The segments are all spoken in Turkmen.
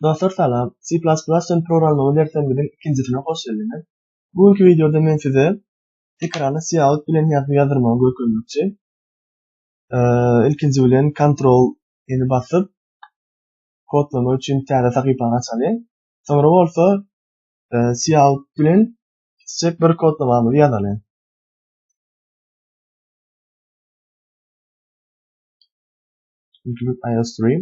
Dostlar salam, C++ üçin programlama dersleriňiziň ikinjisine hoş geldiňiz. Bu günki wideoda men size ekrana cout bilen ýazgy ýazdyrmagy görkezmekçi. Ilkinji bilen Ctrl ýene basyp, kodlama üçin täze sahypany açalyň. Soňra bolsa cout bilen kiçijek bir kodlamamyzy ýazalyň. Include iostream.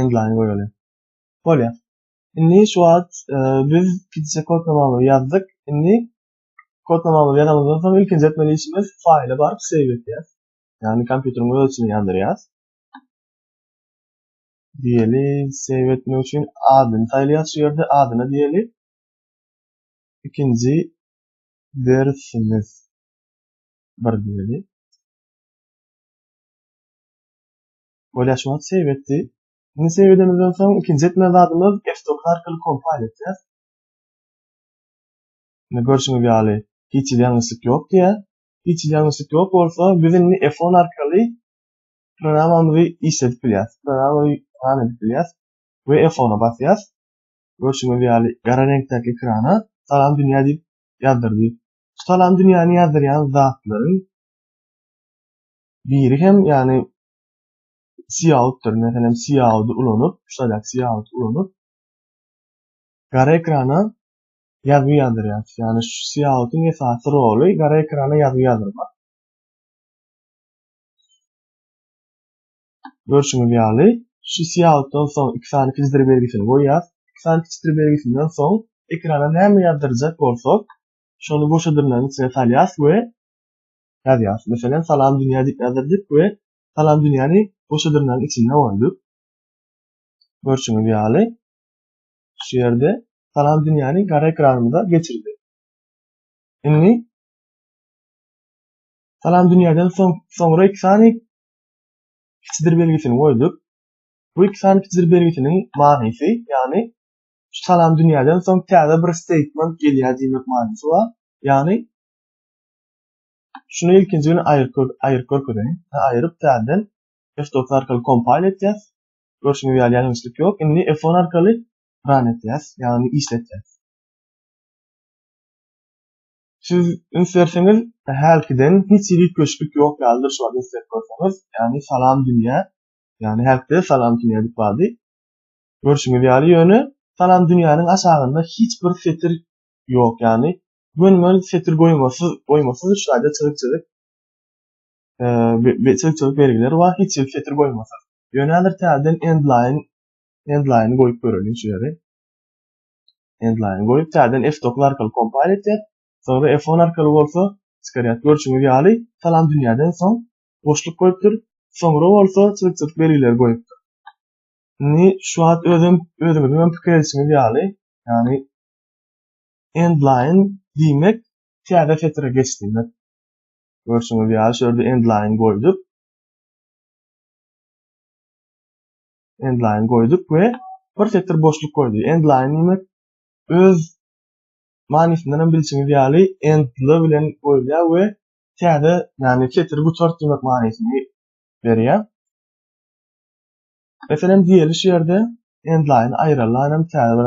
Endline goýaly. Bolýa. Indi şu wagt e, biz pitçe kod namaly ýazdyk. Indi kod namaly ýazanymyzdan soň ilkinji etmeli işimiz faýla baryp save etýäs. Ýagny kompýuteriň öz içine ýandyrýas. Diýeli save etmek üçin adyny saýlaýas şu ýerde adyna diýeli. Ikinji dersimiz bir diýeli. Bolýaşmat save etdi. Indi save edenimizden soň ikinji etmeli zadymyz F9 arkaly compile etýäs. Indi görşüňiz ýaly hiç hili ýalňyşlyk ýok diýýär. Hiç hili ýalňyşlyk ýok bolsa biz indi F10 arkaly programamyzy işledip bilýäs. Programamyzy run edip bilýäs we F10-a basýas. Görşüňiz ýaly gara reňkdäki ekrana salam dünýä diýip ýazdyrdy. Salam dünýäni ýazdyrýan zatlaryň biri hem ýani Sioutdyr. Meselem, Siouty ulanyp, şular Siout ulanyp, gara ekrana ýazgy ýazdyrýar. Ýani şu Sioutyň esasy roly gara ekrana ýazgy ýazdyrmak. Görşüňiz ýaly, şu Sioutdan soň iki sany kiçdir belgisini goýýar. Iki sany kiçdir belgisinden soň ekrana näme ýazdyrjak bolsak, şony goşadyrlaryň içine salýas we ýazýar. Meselem, Salam dünýä diýip ýazdyrdyk we Salam dünýäni bu şudurnaň içinde goýduk. Görşüňiz ýaly, şu ýerde Salam dünýäni gara ekranymyza geçirdi. Indi Salam dünýäden soň soňra iki sany kiçidir belgisini goýduk. Bu iki sany kiçidir belgisiniň manysy, ýagny şu salam dünýäden soň täze bir statement gelýär diýmek manysy bar. Ýagny Şuny ilkinji gün aýyryp görkezeýin. Aýyryp täzeden F9 arkaly kompile etýäs. Görşüňiz ýaly ýalňyşlyk ýok. Indi F10 arkaly run etýäs, ýagny işletýäs. Siz üns berseňiz, hälkiden hiç hili üýtgeşiklik ýok ýalydyr şu wagt üns berip görseňiz. Ýagny salam dünýä. Ýagny hälkide salam dünýä diýip bardy. Görşüňiz ýaly ýöne salam dünýäniň aşagynda hiç bir setir ýok, ýagny Mönmön setir goýmasyz, goýmasyz üç aýda çyzyk-çyzyk eee çyzyk-çyzyk belgileri bar, hiç hili setir goýmasyz. Ýöne häzir täzeden endline endline goýup göreliň şu ýeri. Endline goýup täzeden F9 arkaly kompile etýär. Soňra F10 arkaly bolsa çykarýar. Görşüňiz ýaly, salam dünýäden soň boşluk goýupdyr. Soňra bolsa çyzyk-çyzyk belgileri goýupdyr. Indi şu wagt özüm özüňiziň hem pikir edişiňiz ýaly, ýagny end line diýmek täze setire geç diýmek. Görşüňiz ýaly şu ýerde end line goýduk. End line goýduk we bir setir boşluk goýdy. End line diýmek öz manysyndan hem bilşiňiz ýaly endli bilen goýulýar we täze, ýagny setiri gutart diýmek manysyny berýär. Meselem, diýeli şu ýerde end line aýralan hem täze bir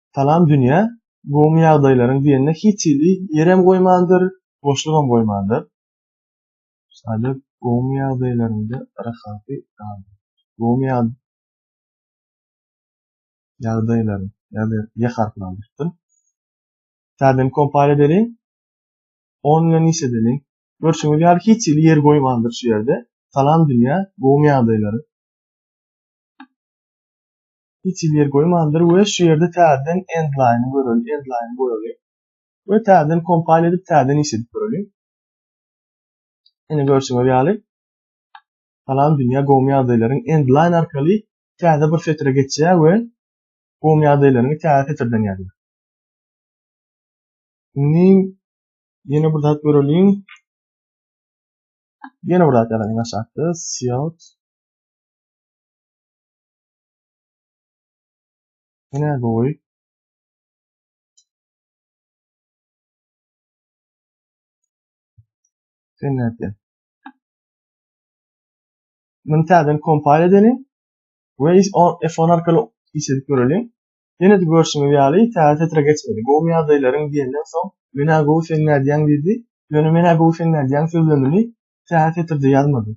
Salam dünýä, gowymy ýagdaýlaryň diýende hiç hili ýerem goýmandyr, boşlugam goýmandyr. Şaýda gowymy ýagdaýlaryňda rahaty gal. Gowymy ýag ýagdaýlaryň ýa-da ýa harpyny aldyrypdym. Täzeden kompal edeliň. 10 bilen iş edeliň. Görşüňiz ýaly hiç hili ýer goýmandyr şu ýerde. Salam dünýä, gowymy ýagdaýlaryň. Hiç ýer goýmandyr we şu ýerde täzeden endline göreli, endline goýaly we täzeden kompile edip täzeden iş edip göreli. Ine görşüňiz ýaly salam dünýä gowumy ýagdaýlaryň endline arkaly täze bir setre geçýär we gowumy ýagdaýlaryňy täze setirden ýazýar. Indi ýene bir zat göreliň. Ýene bir zat ýazaýyn aşakda. Siot. Ine gowy. Sen nätdi? Bunu täzeden kompile edelim. Ve F10 arkaly iş edip görelim. Yine de görüşümüz ýaly täze setre geçmeli. Gowy ýagdaýlaryň diýenden soň menä gowy sen nädýäň diýdi. Ýöne menä gowy sen nädýäň sözlerini täze setrde ýazmady.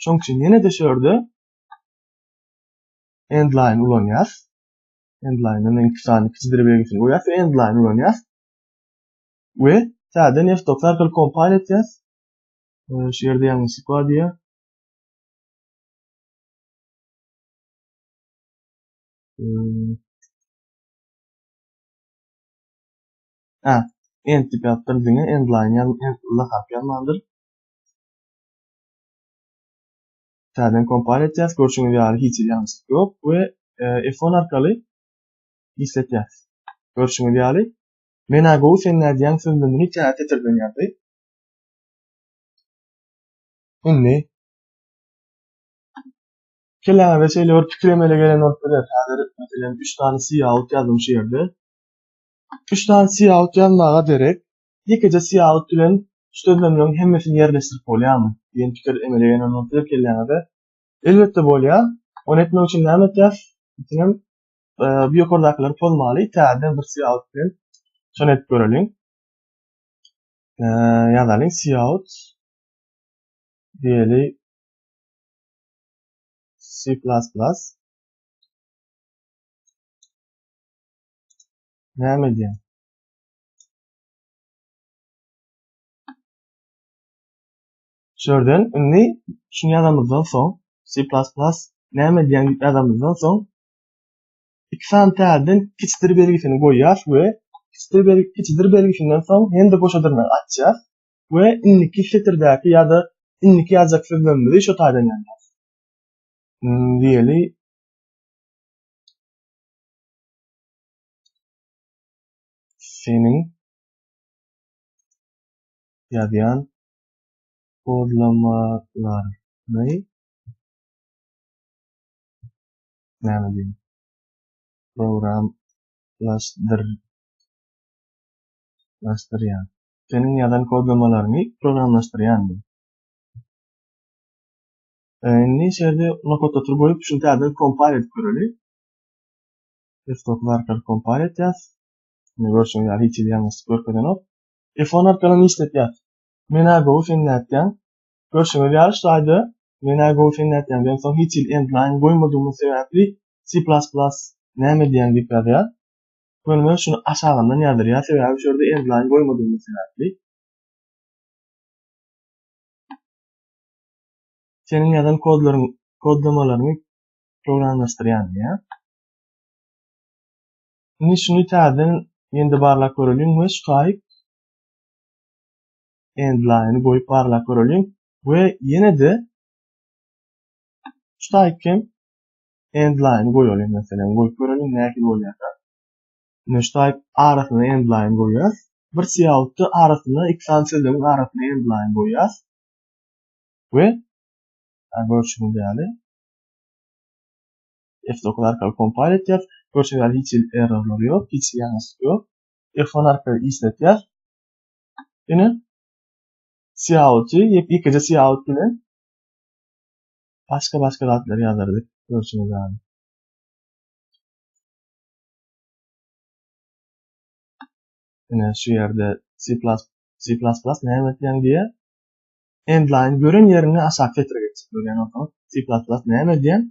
Şoň üçin ýene de şu ýerde Endline ulanýas. Endline-de men iki sany kiçidir belgisini goýýas we endline ulanýas. We täze Neftox arkaly kompile etýas. Şu ýerde ýalňyşlyk bar diýýär. Ha, end dip ýapdyr diňe endline ýalňyşlyk harp ýalmandyr. täzeden kompaniýa etýäs. Görşüňiz ýaly hiç hili ýalňyşlyk ýok we F10 arkaly işletýäs. Görşüňiz ýaly Men agow sen nädýäň söz bilen hiç ýere setirden ýazdy. Indi Keleňizde şeýle bir pikir emele gelen bolup biler. Häzir meselem 3 sany siýaut ýazdym şu ýerde. 3 sany siýaut ýazmaga derek Ýekeje syýahat bilen şu sözlemleriň hemmesini ýerleşdirip bolýarmy? diýen pikir emele gelmän bolsa-da kelläňize. Elbetde bolýar. Ony etmek üçin näme etýäs? Ýekenem bu ýokardakylary pozmaly, täzeden bir syýahat bilen şony edip göreliň. Ýazalyň, syýahat diýeli C plas plas. Näme edýär? Şörden indi şunu ýazamyzdan soň C++ näme diýen ýazamyzdan soň iki sany täzeden kiçdir belgisini goýýas we kiçdir belgi kiçdir belgisinden soň hem de boşa dyrnak açýas we indiki setirdäki ýa-da indiki ýazjak sözlerimizi şu taýdan ýazýas. Hmm, diýeli seniň ýazýan kodlamalaryňy näme diýin programlaşdyrýan seniň ýazan kodlamalaryňy programlaşdyrýan diýin Indi şeýle nokatda turup goýup, şuny täzeden kompile edip göreli. Desktop arkaly kompar etýas. Indi görşüňiz ýaly hiç hili ýalňyşlyk görkezenok. Iphone arkaly ne işletýas? Menä gowy sen nätýäň? Görşüňiz ýaly şlaýda menä gowy sen nätýäň diýen soň hiç hili endline goýmadygymyz sebäpli C++ näme diýýäň diýip ýazýar. Göni şuny aşagyndan ýazdyrýar sebäbi şu ýerde endline goýmadygymyz sebäpli. Seniň ýazan kodlaryň kodlamalaryňy programlaşdyrýan diýýär. Indi şuny täzeden ýene barlap göreliň we Skype endline goýup barlap göreliň we ýene-de Skype hem endline goýalyň meselem goýup göreliň nähili bolýar. Indi Skype arasyna endline goýýas. Bir siýautda arasyna iki sany sözlügiň arasyna endline goýýas. We görüşüň ýaly F9 arkaly kompile etýär. Görşüňiz ýaly hiç hili errorlar ýok, hiç hili ýalňyşlyk ýok. F10 arkaly işletýär. Ine cout ýekeje cout bilen başga-başga zatlar ýazardyk görşüňiz ýaly. Ine şu ýerde C++ C++ näme diýen diýe endline gören ýeriňi aşak getirip geçip görýän olsaň C++ näme diýen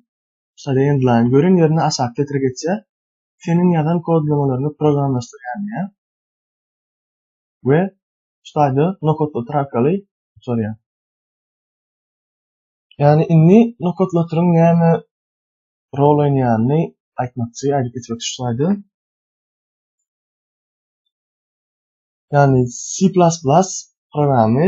Şada endline gören ýerine aşak getir geçýär. Seniň ýazan kodlamalaryňy programlaşdyrýan diýýär. We şu taýda nokodlatyr arkaly uçurýar. Ýani indi nokodlatyryň näme rol oýnaýanyny aýtmakçy, aýdyp geçmekçi şu taýda. Ýani C++ programy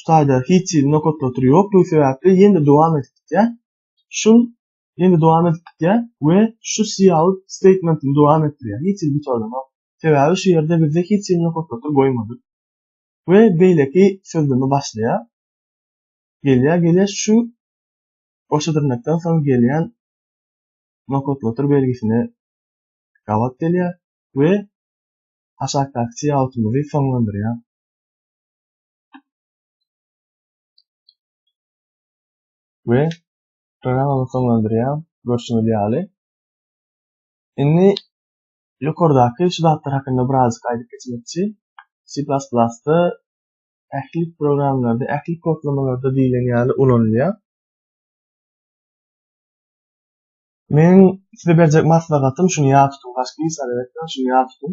şu taýda hiç hili nokatlatyr ýokdugy sebäpli ýene dowam edip gitýär. Şu ýene dowam edip gitýär we şu cout statementini dowam etdirýär. Hiç hili gutardanok. Sebäbi şu ýerde bizde hiç hili nokatlatyr goýmadyk. We beýleki sözleme başlaýar. Gelýär, gelýär şu goşa dyrnakdan soň gelýän nokatlatyr belgisine gabat gelýär we aşakdaky coutymyzy soňlandyrýar. Ve programmamyzy soňlandyrýan görşüňiz ýaly. Indi ýokardaky şu zatlar hakynda birazjyk aýdyp geçmekçi. C++-da ähli programlarda, ähli kodlamalarda diýlen ýaly ulanylýar. Men size berjek maslahatym şuny ýa tutuň, başga hiç zat etmeň, şuny ýa tutuň.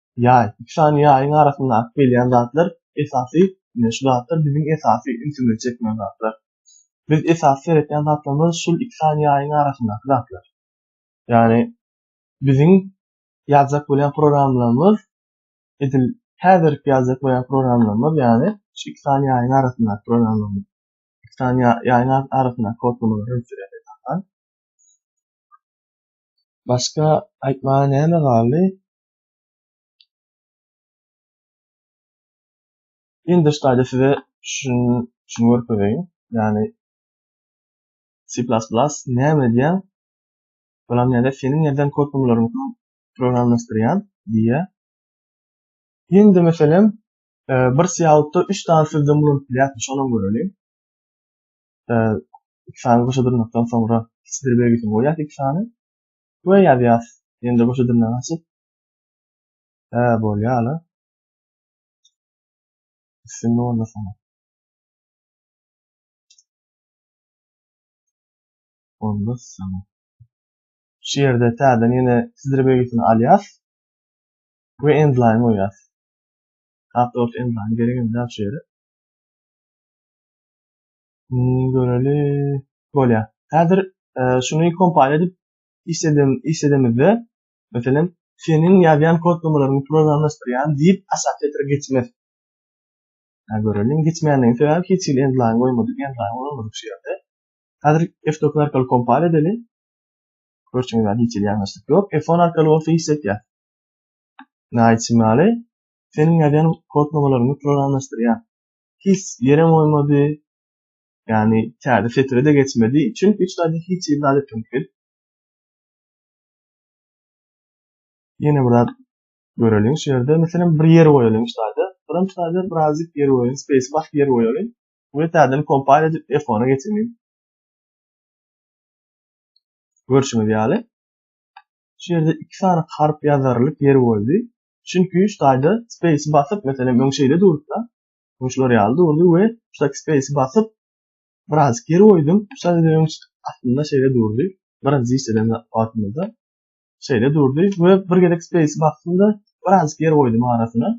Ýaý, iki sany ýaýyň arasynda akyp gelýän zatlar esasy, ine, şu zatlar biziň esasy ünsümizi çekýän zatlar. Biz esasy seretýän zatlarymyz şul iki sany ýaýyň arasyndaky zatlar. Ýagny, biziň ýazjak bolýan programmalarymyz edil häzirki ýazjak bolýan programmalarymyz, ýagny, şu iki sany ýaýyň arasyndaky programmalarymyz. Iki sany ýaýyň arasyndaky kodlamalar hem sürýär esasan. Başga aýtmaga näme galdy? Indi ştaýda size şun şun görkezeýin. Ýani C++ näme diýen? Bulam näde seniň ýerden kodumlaryňy programlaşdyrýan diýýä. Indi meselem e, bir syýalykda 3 sany sözden bulunyp bilýärdi, şonuň göreli. E, iki sany goşa durnakdan soňra hiç bir belgisini goýýar iki sany. we ýazýas indi goşa dilinden açyp hä bolýala üstünlik onda sana onda sana şu ýerde täzeden ýene sizdir belgisini alýas we endline goýýas Hatta orta endline gerek indi şu ýere Hmm, göreli. Bolýar. Häzir e, şuny kompile edip işledem işledemizde, meselem, seniň ýazýan kodlamalaryňy programlaşdyrýan diýip assosiator geçmez. Ha göreliň geçmänligi sebäbi hiç hili endlaýn goýmadyk, endlaýn goýmadyk şu ýerde. Häzir F9 arkaly kompile edeli. Görşüňiz ýaly hiç hili ýalňyşlyk ýok. F10 arkaly bolsa işletýär. Näçe maly? Seniň ýazýan kodlamalaryňy programlaşdyrýar. hiç ýerem goýmady. Ýani täze setire-de geçmedi. Çünki hiç zady hiç hili zat etmedik biz. Ýene bir zat göreliň şu ýerde. Meselem bir ýer goýalyň şu zada. Soram şu zada birazjyk ýer goýalyň. Space basyp ýer goýalyň. Bu täzeden kompile edip F10-a geçelim. Görşüňiz ýaly. Şu ýerde iki sany harp ýazarlyk ýer goýdy. Çünki şu taýda space basyp, meselem, öň şeýle durupda, öň şular ýaly durdy we şudaky space basyp, biraz geri goýdum. Şu taýda öň aslynda şeýle durdy. Birinji işleden wagtymyzda şeýle durdy we bir gezek space basdym-da, biraz geri goýdum arasyna.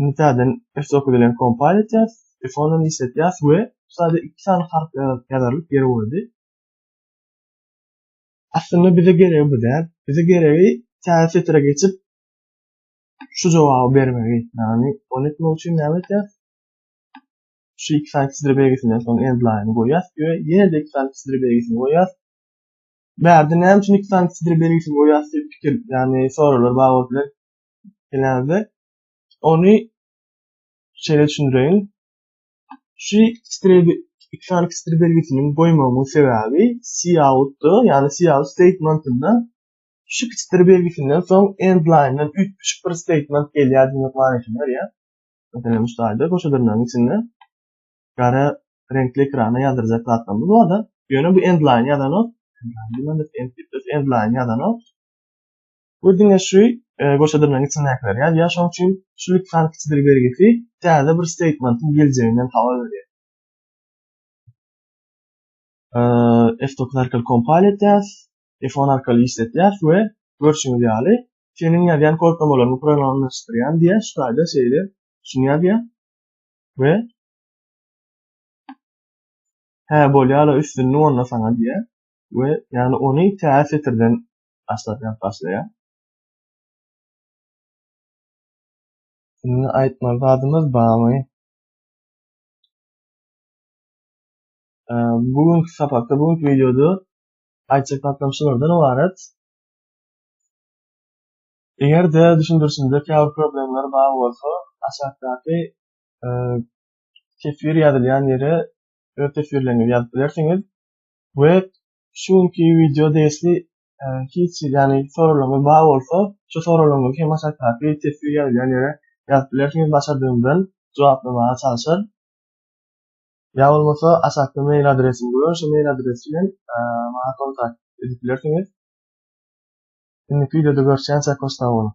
Indi täzeden F9 bilen kompile etýäs, F10-dan işletýäs we şu taýda iki sany harp ýazylyp geri goýdy. Aslynda bize geregi bu däl. Bize geregi täze setre geçip şu jogaby bermegi. Ýagny ony etmek üçin näme etýäs? Şu iki sany çizdir belgisinden soň endline goýýas we ýene-de iki sany çizdir belgisini goýýas. Bärde näme üçin iki sany çizdir belgisini goýýas diýip pikir, ýagny soraglar bar bolup biler. Gelende ony şeýle düşündireýin. Şu iki iki sany kiçdir belgisiniň goýmagynyň sebäbi cout-da, ýagny cout statement-inde şu kiçdir belgisinden soň end line-den üýtgeşik bir statement gelýär diýmek manysyny berýär. Meselem, şu taýda goşadyrnagyň içinde gara reňkli ekrana ýazdyrjak zatlarymyz bar-da, ýöne bu end line ýazanok, end line ýazanok. Bu diňe şu goşadyrnagyň içindäkiler ýaly ýa şoň üçin şu lütfan kiçidir belgisi täze bir statementin geljeginden habar berýär. F9 arkaly kompal etýäs, F10 arkaly işletýäs we görşüňiz ýaly seniň ýazýan kodlamalaryňy programlaşdyrýan diýe şu taýda şeýle şuny ýazýar we hä bolýala üstünlik onda saňa diýe we ýagny ony täze setirden Aşladýan başlaýar. Indi aýtmaly zadymyz barmy? Bu gün sapakda, bu gün videoda aýtjak zatlarym şulardan ibarat. Eger-de düşündirişimde käbir problemler bar bolsa, aşakdaky teswir ýazylýan ýere öz teswirleriňizi ýazyp bilersiňiz we Şu günki wideo dersli hiç ýany soraglaryňyz bar bolsa, şu soraglaryňyzy hem aşakdaky teswir ýazylýan ýere ýazyp bilersiňiz, başardygymdan jogaplamaga çalyşaryn. Ýa bolmasa aşakda mail adresim goýan, şu mail adres bilen maňa kontakt edip bilersiňiz. Indiki wideoda görüşýänçä hoş sag boluň.